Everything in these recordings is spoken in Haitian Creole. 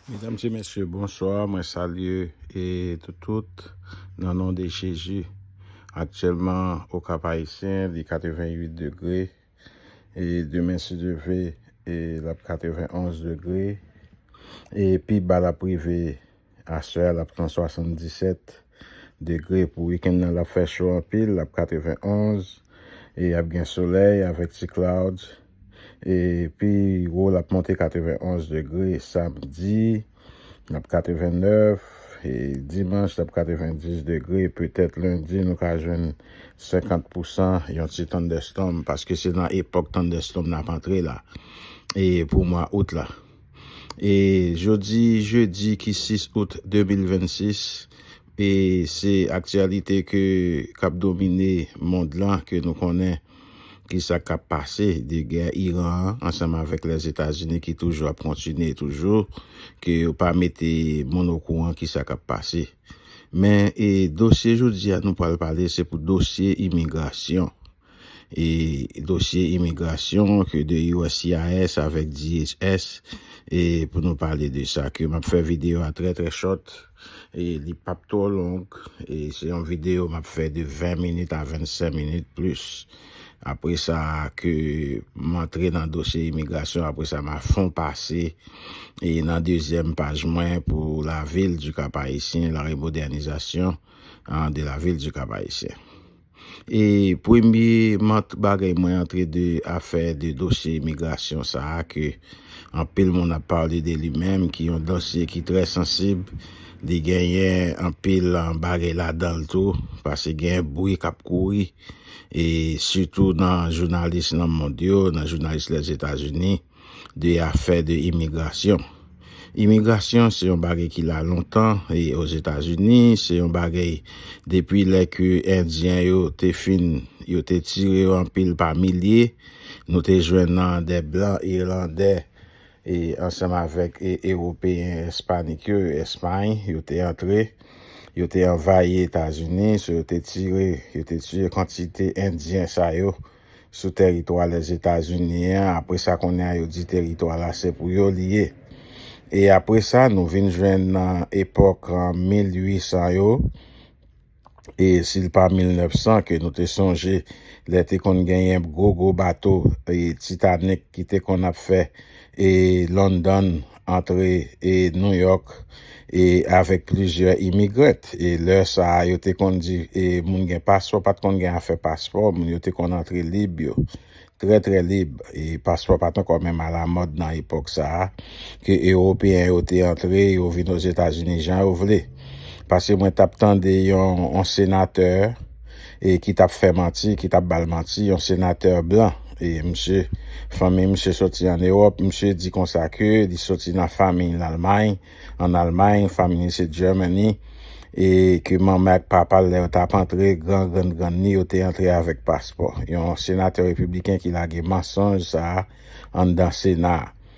Medam se mesye bonswa mwen salye e tout tout nan non de jezi aktyelman o kap ayisyen li 88 degre e demen si Dye vle e lap 91 degre e pi ba lap rive aswè a lap pran 77 degre pou weekend nan lap fè cho anpil lap 91 e ap gen solèy avèk ti clouds. E pi wo l ap monte 91 degre samdi, l ap 89, e dimanch l ap 90 degre, petèt lendi nou ka jwenn 50 pousan yon ti thunderstorm paske se nan epòk thunderstorm n ap antre la e pou mwa out la. E jodi jedi ki 6 out 2026 e se aktyalite ke k ap domine mond lan ke nou konnen. Kisa kap pase de gè Iran an ansanm avèk Lèzetazini ki toujou ap kontinye toujou ke yo pa mete moun okouran kisa kap pase. Men e dosye jodi a nou pral pale se pou dosye imigrasyon. E dosye imigrasyon ke de uscis avèk DHS e pou nou pale de sa ke map fè video a trè trè short. E li pap twò long. E se yon videyo m ap fè de 20 minit a 25 minit plis. Apre sa ke m antre nan dosye imigrasyon, apre sa m a fon pase e nan dezyèm paj mwen pou lavil di Kap Ayisyen, la remodènizasyon de lavil di Kap Ayisyen. E premye mank bagay mwen antre de afè de dosye imigrasyon sa a ke anpil moun ap pale de li menm ki yon dosye ki trè sansib, li genyen anpil bagay ladan l tou pase gen bri k ap kouri e sitou nan jounalis nan mond yo, nan jounalis Lèzetazini. de afè de imigrasyon. Imigrasyon se yon bagay ki la lontan e Ozetazini, se yon bagay depi lè ke endyen yo te fin, yo te tire yo anpil pa milye, nou te jwenn nan de blan irlandè e ansanm avèk ewopeyen espanik yo, espany, yo te antre, yo te anvayi Etazini, so yo te tire, yo te tire kantite endyen sa yo. sou teritwa Lèzetazini an, apre sa kounye a yo di teritwa la se pou yo li ye. E apre sa nou vin jwenn nan epòk 1800 yo, e si l pa 1900 ke nou te sonje lè te konn genyen gwo gwo bato Titanik ki te konn ap fè e London, antre e New York e avèk plizyè imigrant e lè sa a yo te konn di e moun gen paspò pat konn gen afè paspò moun yo te konn antre lib yo trè trè lib e paspò pat ankò menm ala mòd nan epòk sa a ke ewopeyen yo te antre yo vin ozetazini jan yo vle pase mwen tap tande yon senatè e ki tap fè manti, ki tap bal manti, yon senatè blan e misye fanmiy misye soti an Ewòp, misye di konsa ke li soti nan famiy lalmay, an Almay, famiy li se Germany e ke manmè ak papal lè yo tap antre gran grann grann li yo te antre avèk paspò, yon senatè repibliken ki lage mansonj sa anndan sena a.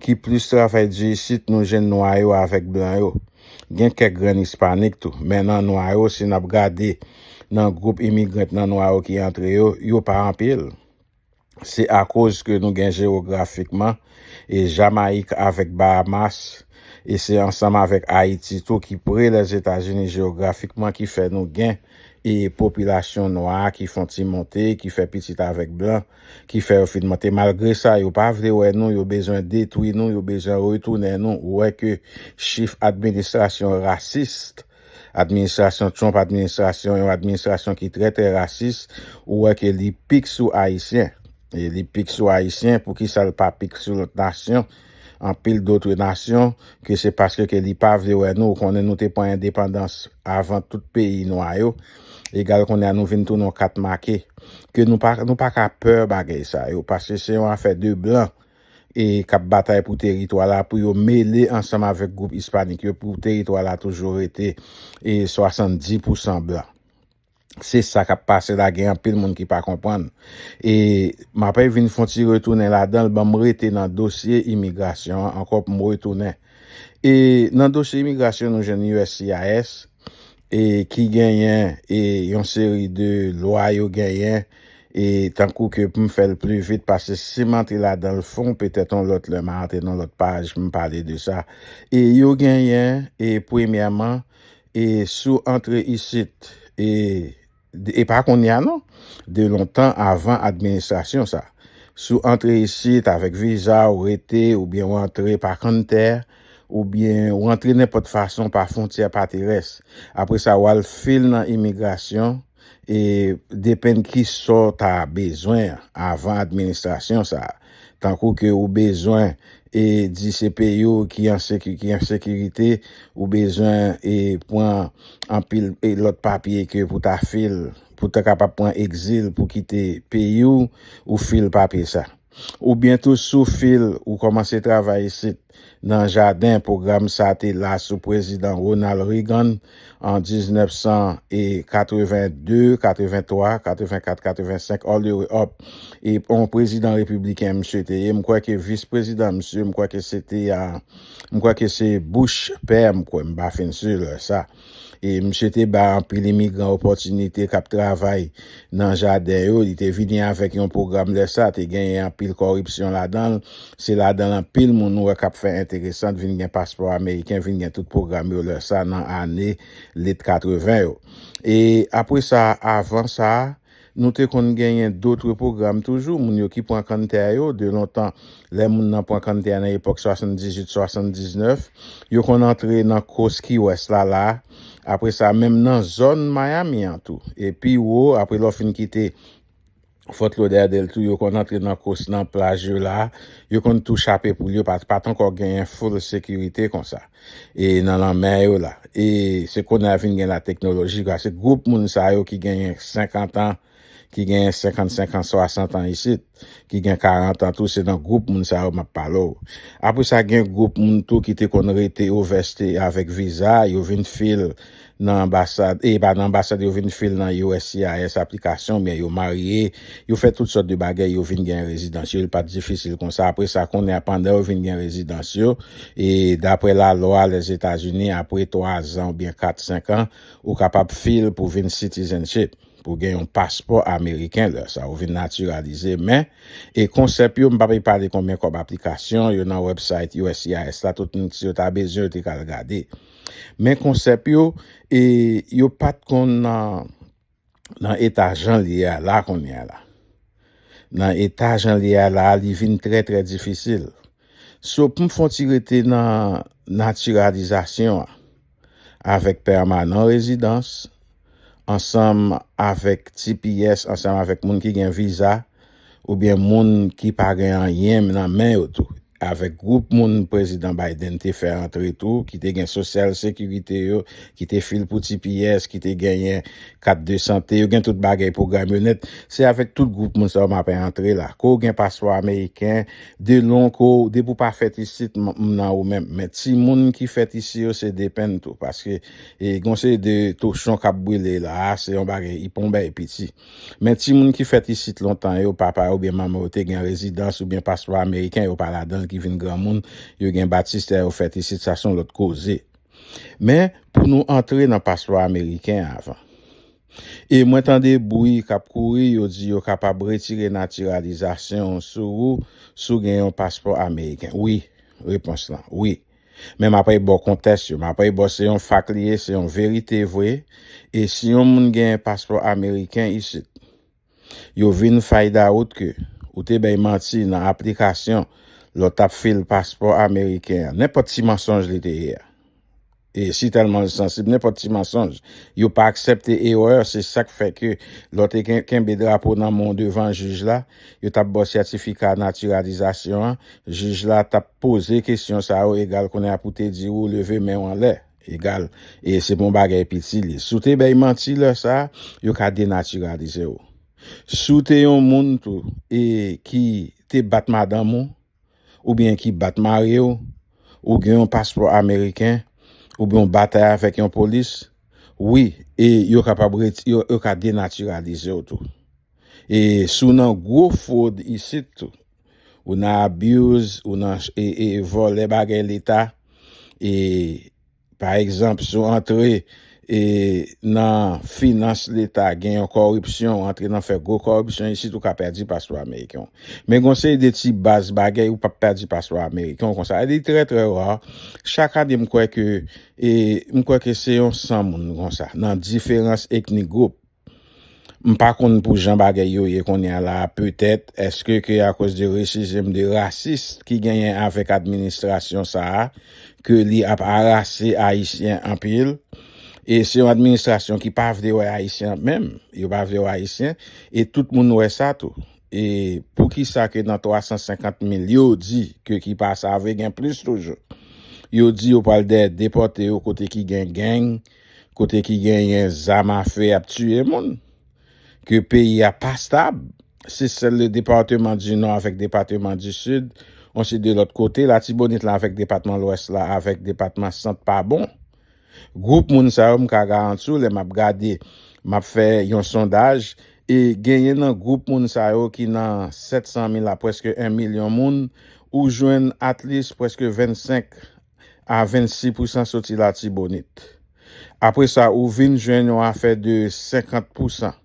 ki plis travay di isit nou jwenn nwa yo avèk blan yo. Gen kèk grenn ispanik tou, men nan nwa yo si n ap gade nan gwoup imigrant nan nwa yo ki antre yo, yo pa anpil. Se akoz ke nou gen jewografikman e Jamayik avèk Bahamas e se ansanm avèk Ayiti tou ki pre Lèzetazini jewografikman ki fè nou gen e popilasyon nwa ki fon ti monte, ki fè pitit avèk blan, ki fè yo fin monte malgre sa yo pa vle wè nou yo bezwen detwi nou yo bezwen retounen nou ou wè ke chif administrasyon rasis administrasyon Trump administrasyon yon administrasyon ki trè trè rasis ou wè ke li pik sou ayisyen li pik sou ayisyen poukisa l pa pik sou lòt nasyon. anpil dotre nasyon ke se paske ke li pa vle wè nou, ou konnen nou te pran endepandans avan tout peyi nwa yo, egal kounye a nou vin tounen yon kat make, ke nou pa nou pa ka pè bagay sa yo, paske se yon afè de blan e kap batay pou teritwa la pou yo mele ansanm avèk gwoup ispanik yo pou teritwa la toujou rete e 70 pousan blan. Se sa kap pase la gen anpil moun ki pa konprann. E mapè vin fon ti retounen ladanl banm rete nan dosye imigrasyon an ankò pou m retounen. E nan dosye imigrasyon nou jwenn uscis e ki genyen e yon seri de lwa yo genyen e tankou ke pou m fè l pli vit pase si m antre ladanl fon petèt yon lòt lè ma antre nan lòt paj pou m pale de sa. E yo genyen e premyèman E si w antre isit, e, e pa kounye a non, de lontan avan administrasyon sa, si w antre isit avèk viza, ou rete, oubyen ou antre pa kanntè, oubyen ou antre nenpòt fason pa fwontyè pa terès, apre sa ou al fil nan imigrasyon, E depenn kisa w ta bezwen avan administrasyon sa a. Tankou ke ou bezwen e di se peyi w ki an ki an sekirite, ou bezwen e pran anpil e lòt papye ke pou ta fil pou ta kapab pran egzil pou kite peyi w, ou fil papye sa a. Ou byen tou sou fil ou komanse travay isit nan jaden pwogram sa te la sou prezidan Ronald Reagan an 1982, 83, 84, 85 all the way up e on prezidan repibliken misye te ye m kwè ke vis prezidan misye m kwè ke se te a m kwè ke se Bush pè m kwè m pa fin sur sa. E misye te ba anpil imigran opòtinite kap travay nan jaden yo. Li te vini avèk yon pwogram lè sa te genyen anpil kòripsyon ladan l. Se ladan l anpil moun ou wè kap fè enteresant vin gen paspò ameriken, vin gen tout pwogram yo lè sa nan ane lit 80 yo. E apre sa, avan sa, Nou te konn genyen dotre pwogram toujou, moun yo ki pran kanntè a yo, de lontan, lè moun nan pran kanntè a nan epòk 78, 79, yo konn antre nan kous ki wès la, la, apre sa, menm nan zòn Miami an tou. E pi wo, apre lè w fin kite Fort Lauderdale tou, yo konn antre nan kous nan plaj yo la, yo konn tou chape poul yo, pa t pa t ankò genyen full sekirite konsa. e nan lanmè yo la e se kounye a vin gen la teknoloji ka se gwoup moun sa yo ki genyen 50 an ki genyen 55 an 60 an isit ki gen 40 an tou se nan gwoup moun sa yo map pale w apre sa gen gwoup moun tou ki te konn rete ou vèste avèk viza yo vin fil nan anbasad e pa nan anbasad yo vin fil nan uscis aplikasyon oubyen yo marye yo fè tout sòt de bagèy yo vin gen rezidans yo li pat difisil konsa apre sa kounye a pandan yo vin gen rezidans yo e daprè lalwa lèzetazini apre 3 zan oubyen 4 5 an ou kapab fil pou vin citizenship pou gen yon paspò ameriken lè sa ou vin natiralize men e konsèp yo m pap e pale konbyen kòb aplikasyon yo nan wèbsayt uscis la tout moun si yo ta bezwen yo te ka al gade. Men konsèp yo e yo pat konn nan eta jan li ye a la kounye a la. Nan eta jan li ye a la, li vin trè trè difisil. So pou m fon ti rete nan natiralizasyon an avèk pèmanan rezidans ansanm avèk tps ansanm avèk moun ki gen viza oubyen moun ki pa gen anyen nan men yo tou avèk gwoup moun prezidan Biden te fè antre tou ki te gen sosyal sekirite yo ki te fil pou tps ki te genyen kat de sante yo gen tout bagay pwogram yo nèt se avèk tout gwoup moun sa yo m ape antre la ke w gen paspò ameriken de lon ke w depi w pa fèt isit m nan ou menm men timoun ki fèt isi yo se depenn tou paske E gen yon seri de tochon k ap brile la a, se yon bagay iponbèy piti. Men timoun ki fèt isit lontan yo, papa yo oubyen manman yo te gen rezidans oubyen paspò ameriken, yo pa ladan l, ki vin granmoun, yo gen batistè, yo fèt isit, sa se yon lòt koze. Men, pou nou antre nan paspò ameriken an avan. E mwen tande bri k ap kouri, yo di yo kapab retire natiralizasyon w sou ou si w gen yon paspò ameriken. Wi. Repons lan, wi. Men map repo kontes yo map repo se yon fak li ye se yon verite vre e si yon moun gen paspò ameriken isit yo vin find out ke ou te bay manti nan aplikasyon lè w tap fil paspò ameriken an nenpòt ti mansonj li te ye a e si telman l sansib nenpòt ti mansonj yo pa aksepte erè se sak fè ke lè w te kenbe drapo nan men w devan jij la yo tap ba w sètifika natiralizasyon an jij la tap Poze kesyon sa yo egal kounye a pou te di ou leve men ou anlè, egal e se pou yon bagay piti li. Si w te bay manti lè sa, yo ka denatiralize ou. Si w te yon moun tou e ki te bat madanm ou, oubyen ki bat mari w, ou gen yon paspò ameriken, oubyen w batay avèk yon polis, wi e yo kapab reti, yo ka denatiralize w tou. E si w nan gwo fwod isit tou. ou nan abuse ou nan vòlè bagay leta e pa egzanp si w antre e nan finans leta gen yon kòripsyon ou antre nan fè gwo kòripsyon isit ou ka pèdi paspò ameriken w men gon seri de ti baz bagay ou pap pèdi paspò ameriken w konsa li trè trè ra chak ane m kwè ke e m kwè ke se yon 100 moun konsa nan diferans etnik gwoup M pa konn pou jan bagay yo ye konnya la a petèt eske ke akoz de resizm de rasis ki genyen avèk administrasyon sa a ke li ap arase ayisyen anpil e se yon administrasyon ki pa vle wè ayisyen ap menm yo pa vle wè ayisyen e tout moun wè sa tou e pou kisa ke nan 350 mil yo di ke ki pa save gen plis toujou yo di yo pral dèyè depòte yo kote ki gen gang kote ki genyen zam afe ap tiye moun, ke peyi a pa stab, se sèl le departeman di Nò avèk depateman di Sid, on se de lòt kote Latibonit la avèk depatman Lwès la avèk depatman Sant pa bon. Gwoup moun sa yo m ka garanti w lè m ap gade, m ap fè yon sondaj, e genyen nan gwoup moun sa yo ki nan 700 mil a prèske 1 milyon moun, ou jwenn atlis prèske 25 a 26 pousan soti Latibonit. Apre sa ou vin jwenn yon afè de 50 pousan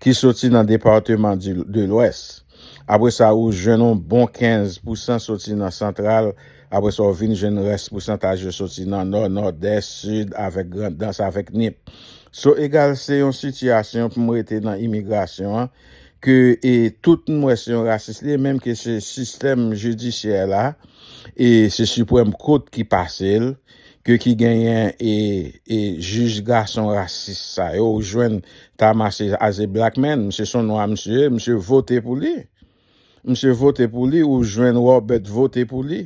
ki soti nan departeman de Lwès. Apre sa ou jwenn yon bon 15 pousan soti nan Santral. Apre sa ou vin jwenn rès pousantaj yo soti nan Nò, Nòdès, Sid avèk Grandans avèk Nip. So egal se yon sitiyasyon pou m rete nan imigrasyon an ke e tout m wè se yon rasis li ye menm ke se sistèm jidisyè la e se siprèm kot ki pase l ke ki genyen e e jij gason rasis sa yo ou jwenn Thamas as a black man misye son nwa misye ye misye vote pou li Msye vote pou li ou jwenn Robert vote pou li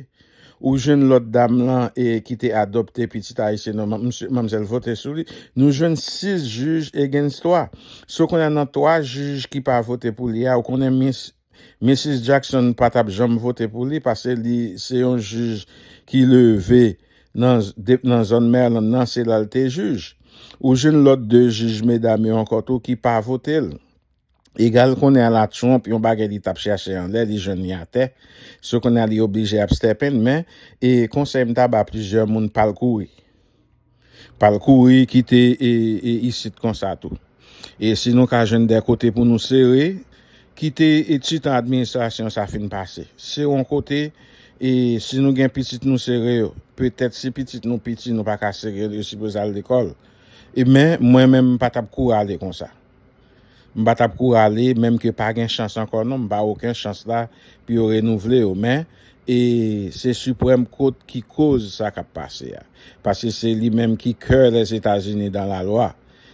ou jwenn lòt dam lan e ki te adopte pitit ayisyen non msye manmzèl vote sou li nou jwenn 6 jij against 3 so kounye a nan 3 jij ki pa vote pou li a ou konnen mis Mrs Jackson pa tap janm vote pou li pase li se yon jij ki leve nan nan zòn Maryland nan se la l te jij ou jwenn lòt 2 jij medam yo ankò tou ki pa vote l. Egal konnen a la Trump yon bagay li tap chache anlè li jwenn li atè so konnen a li oblije ap stèpen men e konsèy m ta ba plizyè moun pal kouri pal kouri kite e isit konsa tou e si nou ka jwenn dè kote pou nou sere kite e titan administrasyon sa fin pase se yon kote e si nou gen pitit nou sere yo petèt si pitit nou piti nou paka sere yo yo sipoze al lekòl e men mwen menm m patap kou ale konsa. M pa tap kou rale menm ke pa gen chans ankò non m pa oken chans la pou yo renouvle yo men e se siprèm kot ki koz sa kap pase a paske se li menm ki kè lèzetazini dan la lwa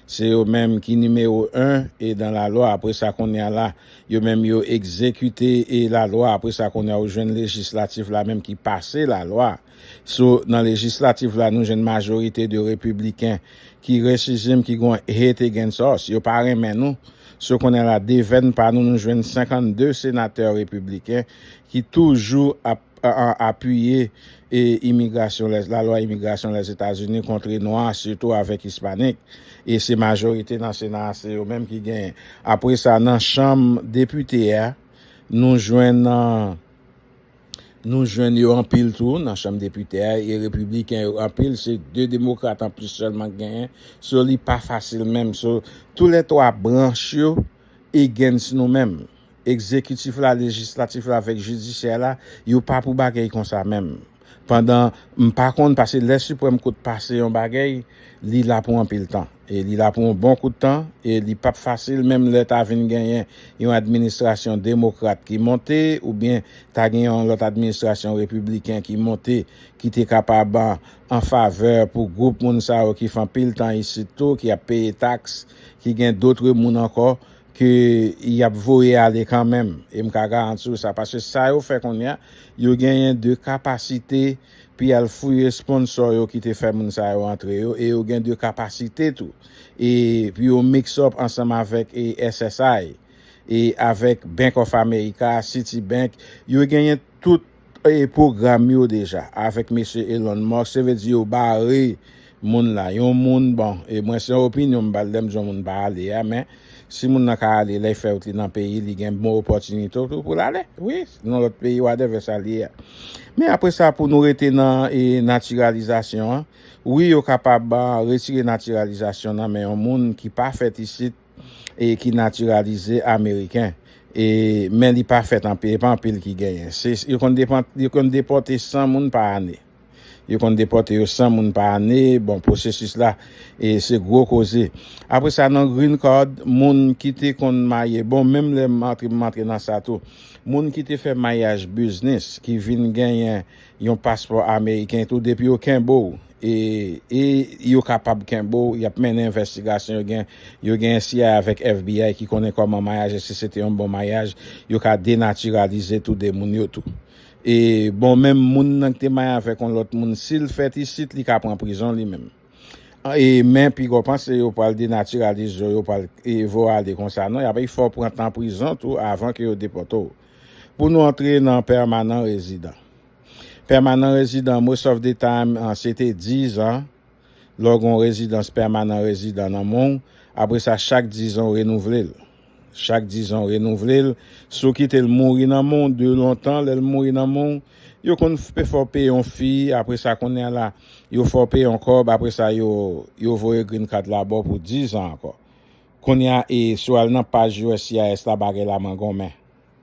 se yo menm ki nimewo 1 e dan la lwa apre sa konnya la yo menm yo egzekite e la lwa apre sa konnya ou jwenn lejislatif la menm ki pase la lwa. Sou nan lejislatif la nou jwenn majorite de repibliken ki rechizim ki gon hate against us, yo pa renmen nou. So konnen la devèn pa nou nou jwenn 52 senatè repibliken ki toujou ap apiye e imigrasyon lè la lwa imigrasyon lèzetazini kontre nwa sitou avèk ispanik e se majorite nan sena a se yo menm ki genyen. Apre sa nan chanm depite a nou jwenn. Nou jwenn yo anpil tou nan chanm depite a e repibliken yo anpil, se 2 demokrat anplis sèlman k genyen, so li pa fasil menm, so tou lè 3 branch yo against nou menm, egzekitif la, lejislatif la avèk jidisyè la, yo pa pou bagèy konsa menm, pandan m pa konn pase lè siprèm kout pase yon bagèy li la pou anpil tan. E li la pou yon bon kout tan, e li pap fasil menm lè ta vin genyen yon administrasyon demokrat ki monte oubyen ta gen yon lòt administrasyon repibliken ki monte ki te kapab an favè pou gwoup moun sa yo ki fè anpil tan isit tou, ki ap peye taks, ki gen dotre moun ankò ke y ap voye ale kanmenm. E m ka garanti w sa. Paske sa yo fè kounye a, yo genyen de kapasite. Pi al fouye sponsor yo ki te fè moun sa yo antre yo e yo gen de kapasite tou e pou yo mix up ansanm avèk SSI e avèk Bank of America, City Bank, yo genyen tout pwogram yo deja avèk mesye Elon Musk se vle di yo bare Moun la, yon moun, bon, e mwen se opinyon m bal lèm di yon moun pa ale a, men si moun nan ka ale lèy fè wout li nan peyi li gen bon opòtinite tou poul ale wi nan lòt peyi wadèvè sa li ye a. Men apre sa pou nou rete nan e natiralizasyon an, wi yo kapab retire natiralizasyon nan men yon moun ki pa fèt isit e ki natiralize ameriken e men li pa fèt anpi e pa anpil ki genyen se yo konn depòte 100 moun pa ane. Yo konn depòte yo 100 moun pa ane, bon pwosesis la e se gwo koze. Apre sa nan green card moun ki te konn marye, bon menm lè m antre m antre nan sa tou. Moun ki te fè maryaj biznis ki vin genyen yon paspò ameriken tou depi yo kenbe w e e yo kapab kenbe w y ap mennen envèstigasyon yo gen yo genyen cia avèk FBI ki konnen kòman maryaj e si se te yon bon maryaj yo ka denatiralize tou 2 moun yo tou. E bon menm moun nan ki te maye avèk yon lòt moun sil fèt isit li ka pran prizon li menm e men pigaw panse yo pral denatiralize yo yo pral e vo ale konsa non yap e fòw pran tan prizon tou avan ke yo depòtew pou nou antre nan pèmanan rezidan pèmanan rezidan most of the time se te 10 an lèw gen yon rezidans pèmanan rezidan nan menw apresa chak 10 an ou renouvlel. Chak dizan w renouvle l, si w kite l mouri nan men w de lontan lè l mouri nan men w, yo konn fè w peye yon fi, apre sa kounya la yo fè w peye yon kòb, apre sa yo yo voye green card la ba w pou dizan ankò. Kounya e si w al nan paj uscis la bagay la mangonmen.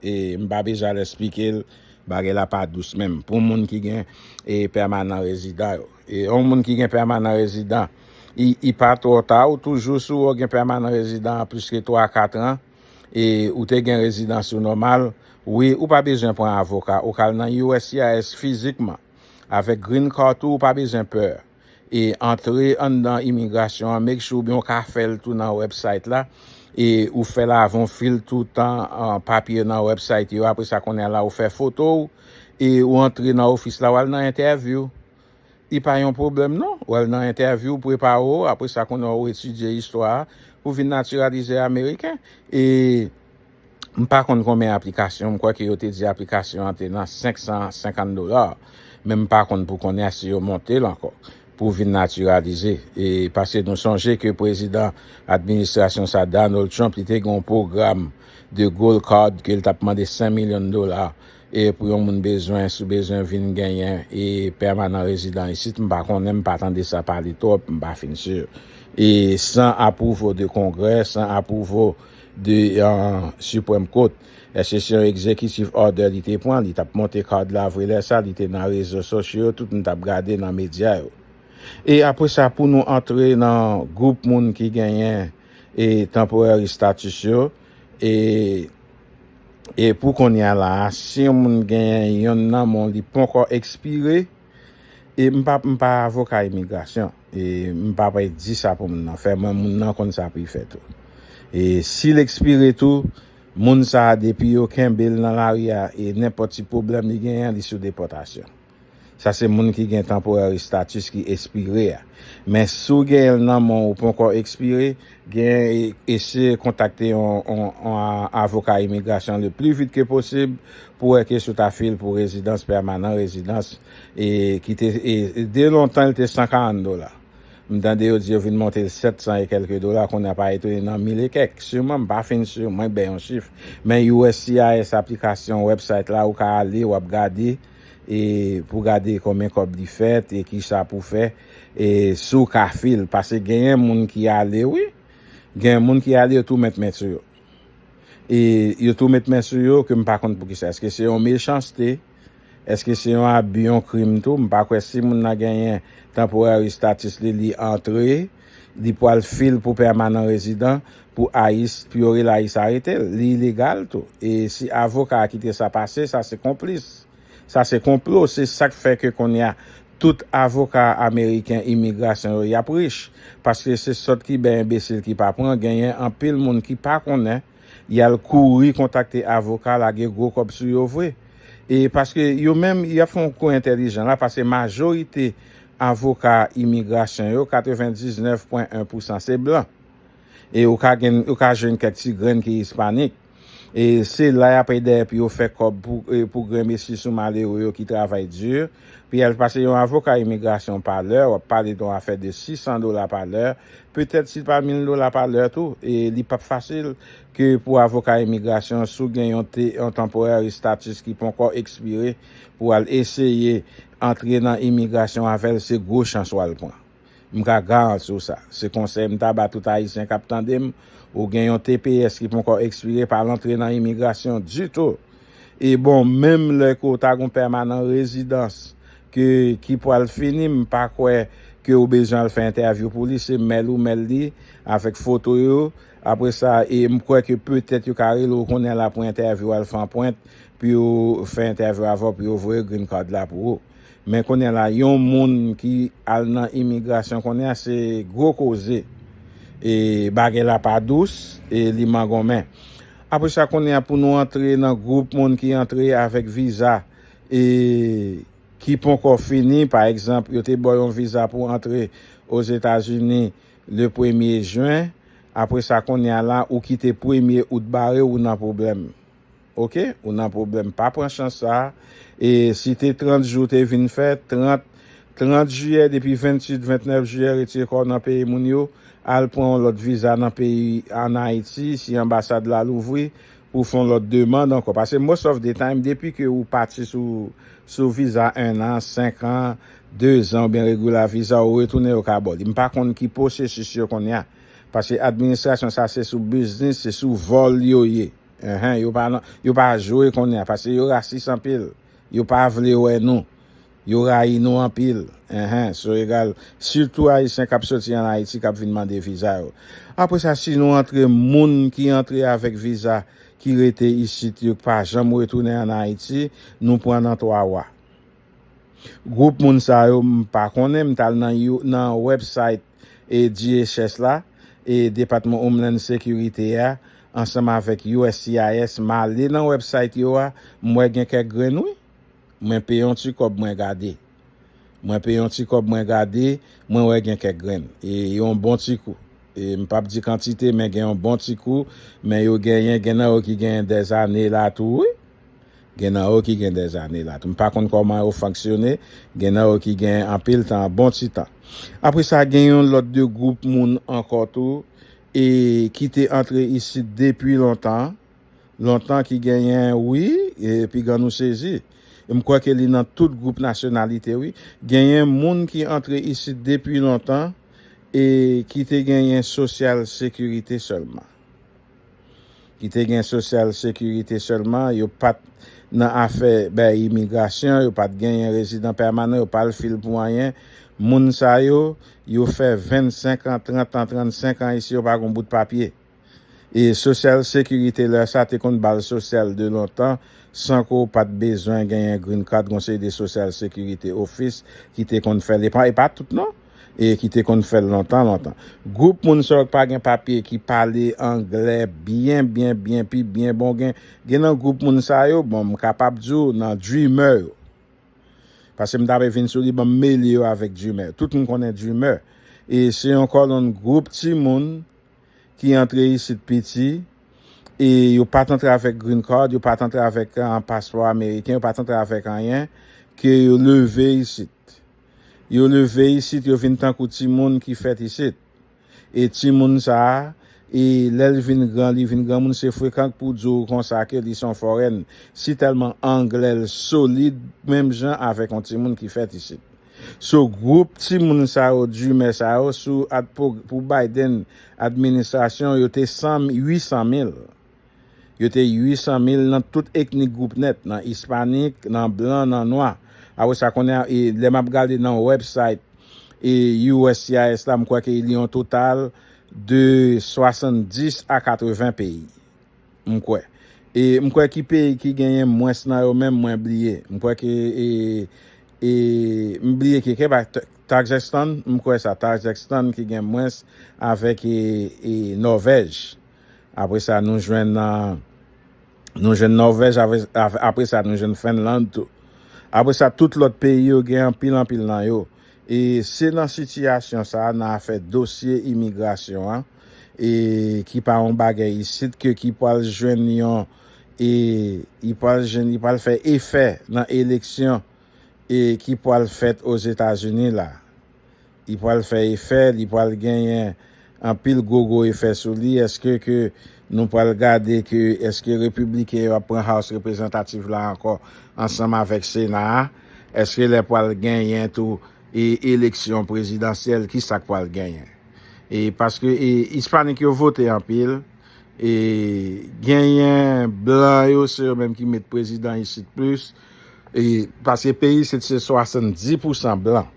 e m pa bezwen al esplike l bagay la pa dous menm pou moun ki gen e pèmanan rezidan yo e yon moun ki gen pèmanan rezidan i i pa twò ta ou toujou si w gen pèmanan rezidan plis ke 3 a 4 an e ou te gen rezidans ou nòmal wi ou pa bezwen pran avoka ou ka al nan uscis fizikman avèk green card tou ou pa bezwen pè e antre anndan imigrasyon an make sure ou byen ou ka fèl tou nan website la e ou fèl avan ou fil toutan papye yo nan website yo apresa kounye la ou fè foto ou e ou antre nan ofis la wal nan entèvyou li pa yon pwoblèm non wal nan entèvyou ou prepare ou apresa kounye ou etidye istwa pou vin natiralize ameriken e. M pa konn konbyen aplikasyon, m kwè ke yo te di aplikasyon an te nan 550 dola, men m pa konn pou kounye a si yo monte l ankò pou vin natiralize. E paske nou sonje ke prezidan administrasyon sa Donald Trump li te gen yon pwogram de gold card ke l t ap mande 100 milyon dola e pou yon moun bezwen sou bezwen vin genyen e pèmanan rezidan isit m pa konnen m pa tande sa pale twòp m pa fin sur e san apwouvo de kongrè san apwouvo de Supreme Court eske se yon executive order li te pran li tap monte card la vre lè sa li te nan rezo sosyo yo tout moun tap gade nan media yo e apre sa pou nou antre nan group moun ki genyen e temporary status yo e e pou konnya la si yon moun genyen yonn nan men w li ponkò expire. E m pa m pa avoka imigrasyon e m pa pe di sa pou moun nan fè mwen moun nan konn sa pou y fè tou e si l ekspire tou moun sa a depi yo kenbe l nan lari a e nenpòt ti pwoblèm li genyen li sou depòtasyon sa se moun ki gen temporary status ki espire a men si w genyen l nan men w ou ponkò ekspire Gen ese kontakte yon avoka imigrasyon le pli vit ke posib pou wè ke si w ta fil pou rezidans pèmanan, rezidans e ki te e de lontan li te 140 dola. M tande yo di yo vin monte l 700 e kèlke dola kounye a pa etone nan 1000 e kèk siman m pa fin sur mwen bè yon chif men uscis aplikasyon website la ou ka ale wap gade e pou gade konbyen kòb li fèt e kisa pou fè. E si w ka fi l, pase genyen moun ki ale wi, genyen moun ki ale yo tou met men sou yo. E yo tou met men sou yo ke m pa konn poukisa. Eske se yon mechanste, eske se yon abi, yon krim tou, m pa kwè si moun nan genyen temporary status li, li antre, li pwal fi l pou permanent resident pou ice, pou yo rele ice arete l. Li ilegal tou. E si avoka a kite sa pase, sa se konplis. Sa se konplo, se sak fè ke konnya Tout avoka ameriken imigrasyon yo yap rich paske se sòt ki bè enbesil ki pa pran genyen anpil moun ki pa konnen yal kouri kontakte avoka lage gwo kòb sou yo vre e paske yo menm yap fè yon kou entèlijan la paske majorite avoka imigrasyon yo 99 pwen 1 pousan se blan e ou ka gen ou ka jwenn kèk ti grenn ki ispanik. E se la yap ede pou yo fè kòb pou grenmesi sou malere yo ki travay di. Pi al pase yon avoka imigrasyon pa lè, wap pale don afè de 600 dola pa lè, petèt si l pa 1000 dola pa lè tou. E li pap fasil ke pou avoka imigrasyon si w gen yon temporary status ki ponkò ekspire pou al eseye antre nan imigrasyon avè l se gwo chans wal pran. M ka garanti w sa. Se konsèy m ta ba tout Ayisyen k ap tande m, ou gen yon tps ki ponkò ekspire pa al antre nan imigrasyon ditou. E bon menm lè ke w ta gen yon pèmanan rezidans ke ki pwal fini m pa kwè ke w bezwen al fè entèvyou pou li se mail ou mail li avèk foto yo apre sa e m kwè ke petèt yo ka rele w kounye la pou entèvyou al fè anpwent pou yo fè entèvyou avè w pou yo voye green card la pou ou. Men kounye la yon moun ki al nan imigrasyon kounye a se gwo koze. E bagay la pa dous e li mangonmen. Apre sa kounye a pou nou antre nan gwoup moun ki antre avèk viza e ki ponkò fini pa egzanp yo te ba w yon viza pou antre Ozetazini le premye jen apre sa kounye a la ou kite premye out bare w ou nan pwoblèm. Ok ou nan problem pa pran chans sa e si te 30 jou te vin fè 30 30 jiyè depi 28 29 jiyè retire kòw nan peyi moun yo al pran yon lòt viza nan peyi an ayiti si anbasad la louvri pou fon lòt demand ankò pase most of the time depi ke ou pati sou sou viza 1 an 5 an 2 zan ou byen regular viza ou retounen yo ka baw li mpa konn ki posesis yo konnya pase administrasyon sa se sou biznis se sou vòl yo ye. Enhen yo pa nan yo pa jwe konnya paske yo rasis anpil yo pa vle wè nou yo rayi nou anpil enhen so egal sitou ayisyen kap soti an ayiti kap vin mande viza yo apre sa si nou antre moun ki antre avèk viza ki rete isit yo pa janm retounen an ayiti nou pran nan twa wa gwoup moun sa yo m pa konnen m tal nan nan website e DHS la e Depatman Homeland Security a ansanm avèk uscis m ale nan website yo a m wè gen kèk grenn wi mwen peye yon ti kòb mwen gade mwen peye yon ti kòb mwen gade mwen wè gen kèk grenn e yon bon ti kou e m pap di kantite men gen yon bon ti kou men yo genyen gen nan yo ki genyen dèzane la tou wi. Gen nan yo ki gen dèzane la tou. M pa konn kòman yo fanksyone, gen nan yo ki gen anpil tan, bon ti tan. Apre sa, gen yon lòt de gwoup moun ankò tou e ki te antre isit depi lontan, lontan ki genyen wi, e piga nou sezi. M kwè ke li nan tout gwoup nasyonalite wi. Genyen moun ki antre isit depi lontan e ki te genyen sosyal sekirite sèlman. ki te gen sosyal sekirite sèlman, yo pa t nan afè bay imigrasyon, yo pa t genyen rezidan pèmanan, yo pa al fil pou anyen. Moun sa yo, yo fè 25 an, 30 an, 35 an isi, yo pa gen yon bout papye. E sosyal sekirite lè sa te konn bal sosyal de lontan san ke w pa t bezwen genyen green card, gen yon seri de sosyal sekirite ofis ki te konn fè l. E pa tout non! E ki te konn fèl lontan lontan. Group moun sa yo ki pa gen papye ki pale anglè byen byen byen pi byen bon gen gen nan group moun sa yo bon m kapab di w nan dreamer yo pase m ta pe vin sou li bon m mele yo avèk dreamer tout m konnen dreamer e se yon kòlonn group ti moun ki antre isit piti e yo pat antre avèk green card yo pat antre avèk paspò ameriken yo pat antre avèk anyen ke yo leve isit. Yo leve isit, yo vin tankou timoun ki fèt isit. E timoun sa a, e lè l vin gran, li vin granmoun, se frekan k pou di w konsa ke li se yon fòrèn, si tèlman anglè l solid menm jan avèk yon timoun ki fèt isit. So gwoup timoun sa yo, dreamer sa yo, sou ad pou Biden administrasyon, yo te 100 800 mil. Yo te 800 mil nan tout eknik gwoup nèt, nan ispanik, nan blan, nan nwa. Apre sa kounye a, lè m ap gade nan website uscis la, m kwè ke li yon total de 70 a 80 peyi, m kwè. E m kwè ki peyi ki genyen mwens nan yo menm, mwen bliye. M kwè ke e, e, m bliye ki ke pa, Tajèkstan, m kwè sa, Tajèkstan ki gen mwens avèk e, e, Nòvèj. Apre sa nou jwenn nou jwenn Nòvèj apre sa nou jwenn Fenland tou. Apre sa tout lòt peyi yo gen anpil anpil nan yo. E se nan sitiyasyon sa nan afè dosye imigrasyon an e ki pa yon bagay isit ke ki pwal jwenn yon e li pwal jwenn li pwal fè efè nan eleksyon e ki pwal fèt Ozetazini la. Li pral fè efè, li pral genyen anpil gwo gwo efè sou li, eske ke nou pral gade ke eske repibliken yo ap pran House Representative la ankò ansanm avèk Sena a, eske lè pral genyen tou e eleksyon prezidansyèl ki sa k pral genyen. E paske e ispanik yo vote anpil, e genyen blan yo se yo menm ki met prezidan isit plis, e paske peyi isit se 70 pousan blan.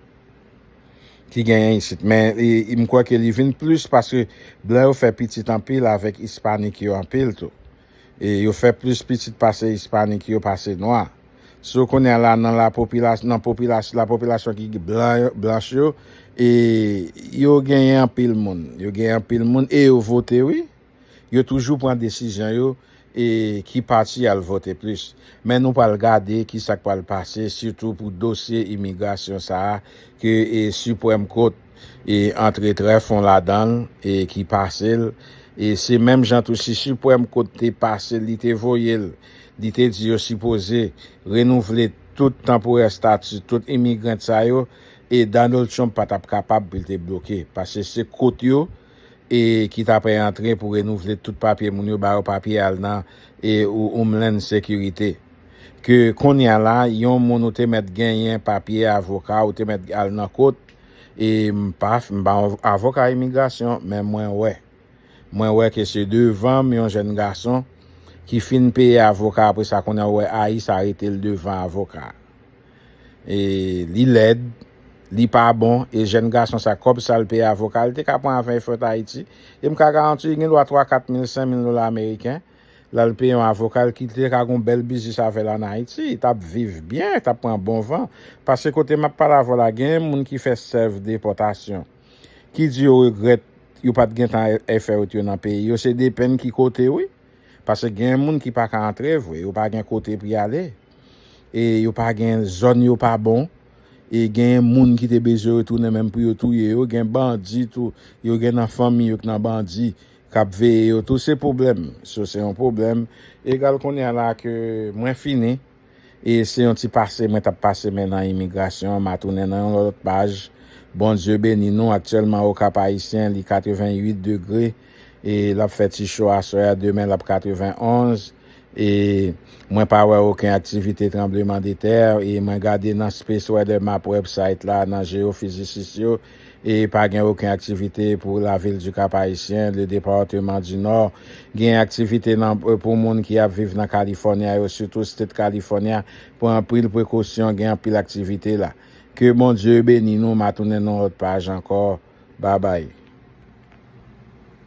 ki genyen isit men m kwè ke li vin plis paske blan yo fè pitit anpil avèk ispanik yo anpil tou e yo fè plis pitit pase ispanik yo pase nwa sou kounye la nan la popilas nan popilas la popilasyon ki blan yo blanch yo e yo genyen anpil moun yo genyen anpil moun e yo vote wi. Yo toujou pran desizyon yo e ki pati yal vote plis. Men nou pral gade kisak pral pase sitou pou dosye imigrasyon sa a ke Supreme Court antre trè fon ladanl e ki pasel e se menm jan tou si Supreme Court te pasel li te voyel li te di yo sipoze renouvle tout tanporè stati tout imigrant sa yo e Donald Trump patap kapab pou li te bloke pase se Court yo e ki ta prè antre pou renouvle tout papye moun yo ba yo papye al nan Homeland Security ke konnya la yon moun ou te mèt genyen papye avoka ou te mèt al nan kot e m pa m pa yon avoka imigrasyon men mwen wè mwen wè ke se devan m yon jèn gason ki fin peye avoka apre sa konnya ou wè ayis arete l devan avoka. e li lèd li pa bon e jèn gason sa kòb sal peye avoka li te ka pran avè fèt ayiti e m ka garanti li gen dwa 3 4 mil 5 mil dola ameriken lal peye yon avoka li te ka gon bèl biznis avèl an ayiti li tap viv byen tap pran bon van pase kote map pale avèw la gen moun ki fè sèv depòtasyon ki di yo regrèt yo pat gentan fèt yo nan peyi yo se depen ki kote wi pase gen moun ki paka antre vre yo pa gen kote pou yale. e yo pa gen zòn yo pa bon e gen moun ki te bezwen retounen menm pou yo touye yo gen bandi tou yo gen nan fanmi yo k nan bandi kap veye yo tou se pwoblèm so se yon pwoblèm egal kounye la ke mwen fini e se yon ti pase mwen tap pase men nan imigrasyon ma tounen nan yon lòt paj Bondye beni nou aktyèlman okap ayisyen li 88 degre. E lap fè ti cho aswè a demen lap 91 e mwen pa wè oken aktivite tranbleman de tè e mwen gade nan space weather map web site la nan jeyofizisis yo e pa gen oken aktivite pou la vil du kap ayisyen le departeman du nò gen aktivite nan pou moun ki ap viv nan california yo sitou state california pran anpil prekosyon gen anpil aktivite la. Ke Bondye beni nou ma tounen nan lòt paj ankò babay.